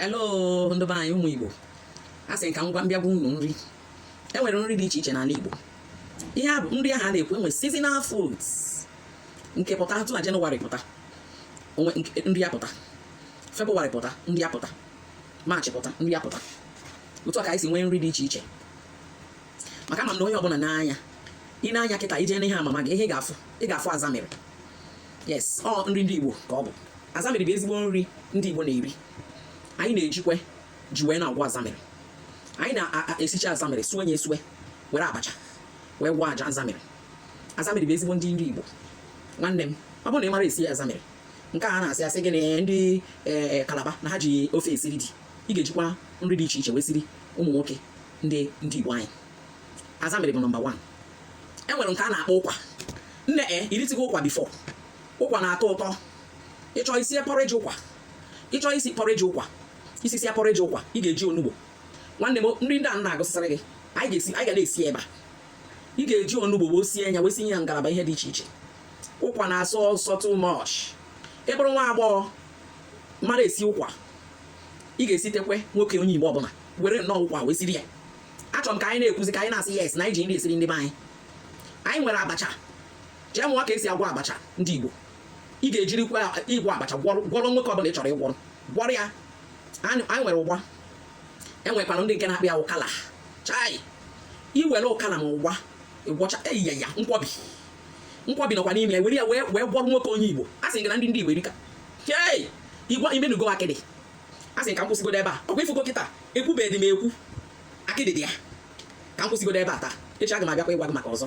hello ndị be anyị ụmụ Igbo a sị ka m gwa m bịa gwa unu nri e nwere nri dị iche iche n'ala Igbo ihe a bụ nri ahụ a na-ekwu e nwee seasonal foods nke pụta atụ na Jenụwarị pụta o nwee nri apụta Febụwarị pụta nri apụta Maachị pụta nri apụta otu a ka anyị si nwee nri dị iche iche maka ama m na onye ọbụla na-anụ ya ị na-anụ ya kịta i jee n'ihe amama gị ihe ị ga-afụ ị ga-afụ azamịrị yes ọ nri ndị Igbo ka ọ bụ azamịrị bụ ezigbo nri ndị Igbo na-eri anyị na-ejikwe ji wee na-agwọ azamịrị anyị na-esicha azamịrị sue ya esue were abacha wee gwọọ aja azamịrị azamịrị bụ ezigbo nri ndị Igbo nwanne m ọ bụrụ na ị mara esi azamịrị nke a na-asị a sị gị na ndị e, e, Kalaba na ha ji ofe esiri di ị ga-ejikwa nri dị iche iche wee siri ụmụ nwoke ndị ndị Igbo anyị azamịrị bụ nọmba 1 e nwere nke a na-akpọ ụkwa nne e i ritugo ụkwa before ụkwa na-atọ ụtọ ị chọọ isi porridge ụkwa ị chọọ isi porridge ụkwa isi si porridge ụkwa ị ga-eji onugbo nwanne m nri ndị a na-agụsịsịrị gị anyị ga-esi anyị ga na-esi ebe a ị ga-eji onugbo wee sie ya wee sinye ya ngalaba ihe dị iche iche ụkwa na-asọ ụsọ too much ị bụrụ nwa agbọghọ mara esi ụkwa ị ga-esitekwe nwoke onye Igbo ọbụla were nnọọ ụkwa wee siri ya achọrọ m ka anyị na-ekwuzi ka anyị na-asị yes na anyị ji nri esiri ndị be anyị anyị nwere abacha jee mụọ ka e si agwọ abacha ndị Igbo ị ga-ejirikwa ịgwọ abacha gwọrọ nwoke ọbụla ị chọrọ ịgwọrọ gwọrọ ya anyị nwere ụgba e nwekwara ndị nke na-akpọ ya ụkala chai i were ụkala ma ụgba ị gwọcha e yie ya nkwobi nkwobi nọkwa n'ime ya were ya wee gwọrọ nwoke onye Igbo a sị gị na ndị ndị Igbo erika chei igwa i menugo akịdị asị m ka m kwụsịgodo ebe a ọ kwa ị fụgo kịta ekwubeghị m ekwu akịdị dị ya ka m kwụsịgodo ebe a taa echi aga m abịakwa ịgwa gị maka ọzọ